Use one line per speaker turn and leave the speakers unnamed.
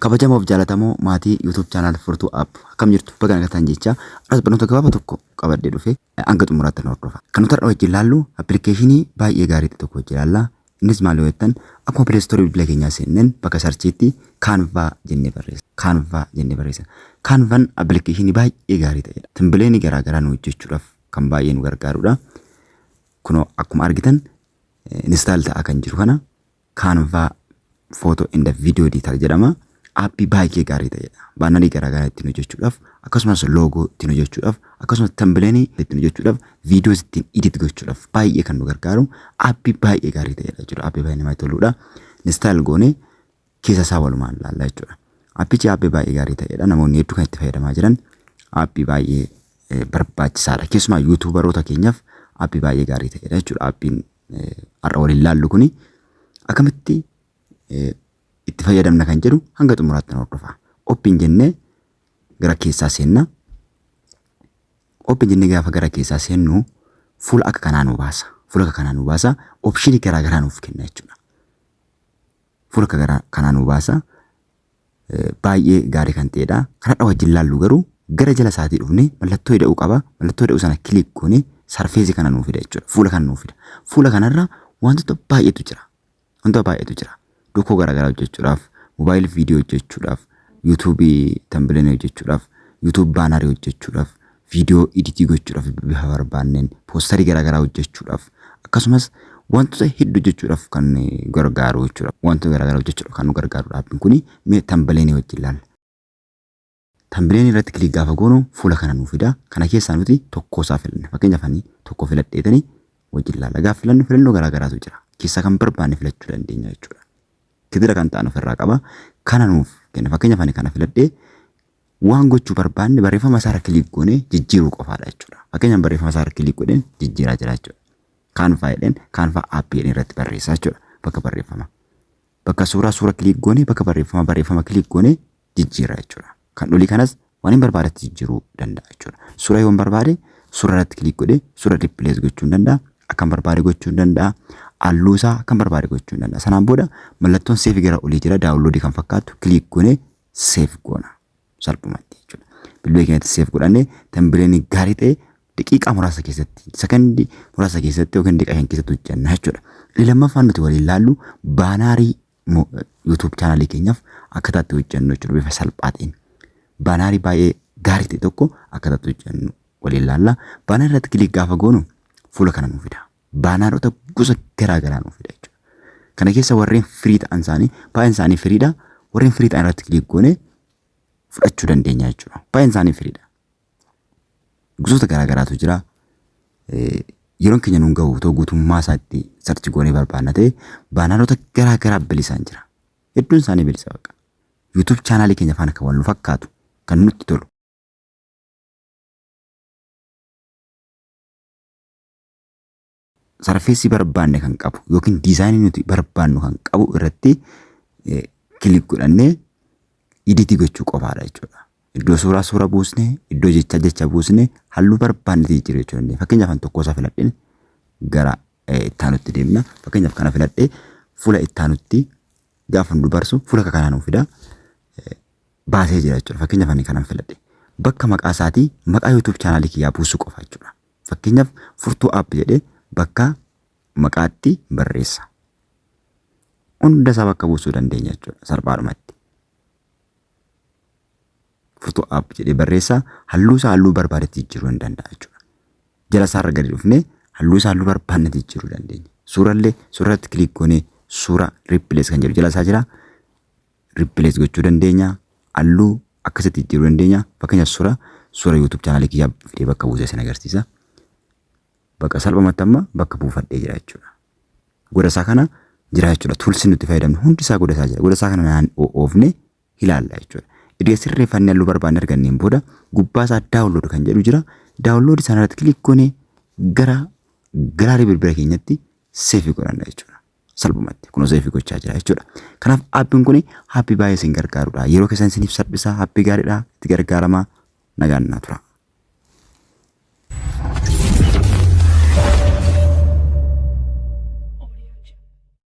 Kabajamoof jaalatamoo maatii YouTube channel Furtuu App akkam jirtu baga nagaan jecha aras barnoota gabaaba tokko qabadde dhufe hanga xumuraatti nu hordofa. Kan nuti har'a wajjin ilaallu appilikeeshinii baay'ee gaarii ta'e tokko wajjin ilaalla. Innis maal yoo jettan akkuma Play Store bilbila keenyaa seenneen bakka sarchiitti Canva jennee barreessa. Canva jennee barreessa. Canvan appilikeeshinii baay'ee gaarii ta'edha. Timbileenii garaa garaa nu hojjechuudhaaf kan baay'ee nu gargaarudha. Kunoo akkuma argitan install ta'aa kan jiru kana Canva Photo and Video Editor jedhama. Aappii baay'ee gaarii ta'edha. Baanarii garaagaraa ittiin hojjechuudhaaf, akkasumas loogoo ittiin hojjechuudhaaf, akkasumas tambileenii ittiin hojjechuudhaaf, viidiyoos ittiin edit gochuudhaaf baay'ee kan nu gargaaru aappii baay'ee gaarii ta'edha jechuudha. Aappii baay'ee namatti toludha. Install goonee keessa isaa walumaan ilaalla jechuudha. Aappichi aappii baay'ee gaarii ta'edha. Namoonni hedduu kan itti fayyadamaa jiran aappii baay'ee eh, barbaachisaadha. Keessumaa yuutuubaroota keenyaaf aappii baay'ee gaarii ta'edha jechuudha. Aappiin har'a waliin laallu kuni akkamitti itti fayyadamna kan jedhu hanga xumuraatti nu hordofa. Open jennee gara keessaa seenna. Open jennee gaafa gara keessaa seennu fuula akka kanaa nu baasa. Fuula akka kanaa nu baasa. Opshinii garaagaraa nuuf kenna jechuudha. Fuula akka gara kanaa nuu baasa. Baay'ee gaarii kan ta'edha. Kanadha wajjin laallu garuu gara jala isaatii dhufne mallattoo ida'uu qaba. Mallattoo ida'uu sana kiliik goone sarfeesii kana nuu fida jechuudha. Fuula kana nuu fida. Fuula kanarra wantoota baay'eetu jira. Wantoota baay'eetu jira. Dokoo garaagaraa hojjechuudhaaf, moobaayil viidiyoo hojjechuudhaaf, yuutuubii tambilenii hojjechuudhaaf, yuutuub baanarii hojjechuudhaaf, video editii gochuudhaf bifa barbaanneen posterii garaagaraa hojjechuudhaf akkasumas wantoota heddu hojjechuudhaf kan gargaaru jechuudha. Wantoota garaagaraa hojjechuudhaf kan nu gargaaru dhaabbiin kuni mee tambileenii wajjin ilaalla. Tambileenii irratti kilik gaafa goonu fuula kana nu fida. Kana keessaa nuti tokkoo isaa filanna. Fakkeenyaaf ani tokko filadheetani wajjin ilaalla. Gaafa filannu filannoo garaagaraatu jira. Keessaa kan barbaanne filachuu dandeenya jechuudha. Gidira kan ta'an ofirraa qaba. Kana nuuf kenna. Fakkeenyaaf ani kana filadhee Waan gochuu barbaanne barreeffama isaarra kiliik goonee jijjiiruu qofaadha jechuudha. Fakkeenyaaf barreeffama isaarra kiliik godheen jijjiiraa jira jechuudha. Kaanfaa jedheen kaanfaa aappii jedheen irratti barreessaa jechuudha. Bakka barreeffama. Bakka suuraa suura kiliik goonee bakka barreeffama barreeffama kiliik goonee jijjiirra jechuudha. Kan olii kanas waan hin barbaadetti jijjiiruu danda'a jechuudha. Suura yoon barbaade suura irratti kiliik godhee suura riippilees gochuun danda'a. Akkan barbaade gochuun danda'a. Halluu isaa akkan barbaade gochuun danda'a. Sanaan booda mallattoon seefi gara olii jira daawunloodii kan fakkaatu kiliik goonee seef goona salphumatti jechuudha. Bilbila keenyatti seef godhannee tambireeni gaarii ta'e daqiiqaa muraasa keessatti sekondii muraasa keessatti yookiin daqiiqaa shan keessatti hojjenna jechuudha. Inni lammaffaan nuti waliin ilaallu baanaarii YouTube chaanaalii keenyaaf akkaataa itti hojjennu jechuudha bifa salphaa ta'een. Baanaarii baay'ee gaarii ta'e tokko akkaataa itti hojjennu waliin ilaalla. Baanaarii irratti kilik gaafa goonu fuula kana nu fida. baanaarota gosa garaa garaa nuuf fida jechuudha. Kana keessa warreen firii ta'an isaanii baay'een isaanii firiidha. Warreen firii ta'an irratti kilik goone fudhachuu dandeenya jechuudha. Baay'een isaanii firiidha. Gosoota garaa garaatu jira. Eh, Yeroon keenya nuun gahu otoo guutummaa isaatti sarchi goonee barbaanna ta'e baanaarota garaa garaa bilisaan jira. Hedduun isaanii bilisa baqa. YouTube chaanaalii keenya faana kan wal nu fakkaatu kan nutti tolu. sarfeessi barbaanne kan qabu yookiin diizaayinii nuti barbaannu kan qabu irratti kilik godhannee iditii gochuu qofaadha jechuudha. Iddoo suuraa suura buusne, iddoo jechaa jecha buusne, halluu barbaanne jijjiiruu jechuu dandeenya. Fakkeenyaaf kan tokkoo isaa filadheen gara ittaanutti deemna. Fakkeenyaaf kana filadhee fuula ittaanutti gaafa nu dubarsu fuula akka kanaa nu fida. Baasee jira jechuudha. Fakkeenyaaf ani kanan filadhe. Bakka maqaa isaatii maqaa YouTube chaanaalii kiyyaa buusuu qofa jechuudha. Fakkeenyaaf furtuu app jedhee bakka maqaatti barreessa. Hunda isaa bakka buusuu dandeenya jechuudha salphaadhumatti. Furtuu app jedhee barreessa halluu isaa halluu barbaadetti jijjiiruu ni danda'a jechuudha. Jala isaarra gadi dhufnee halluu isaa halluu barbaannetti jijjiiruu dandeenya. Suurallee suurarratti kiliik goonee suura riippilees kan jedhu jala isaa jira. replace gochuu dandeenya. Halluu akkasitti jijjiiruu dandeenya. Fakkeenyaaf suura suura YouTube chaanaalii kiyyaa fidee bakka buusee isin agarsiisa. Bakka salphumatti amma bakka buufadhee jira jechuudha. Goda isaa kana jira jechuudha. Tuulsi nuti fayyadamnu hundi isaa goda isaa jira. Goda isaa kana naan oofne ilaalla jechuudha. Erga sirreeffannee halluu barbaanne arganneen booda gubbaa isaa daawunlood kan jedhu jira. Daawunlood sana irratti kilik goonee gara galaarii bilbila keenyatti seefii godhanna jechuudha. salphumatti kun oseefii gochaa jira jechuudha. Kanaaf aappiin kun haappii baay'ee isin gargaarudha. Yeroo keessan isiniif salphisa haappii gaariidha itti gargaaramaa nagaan naa tura.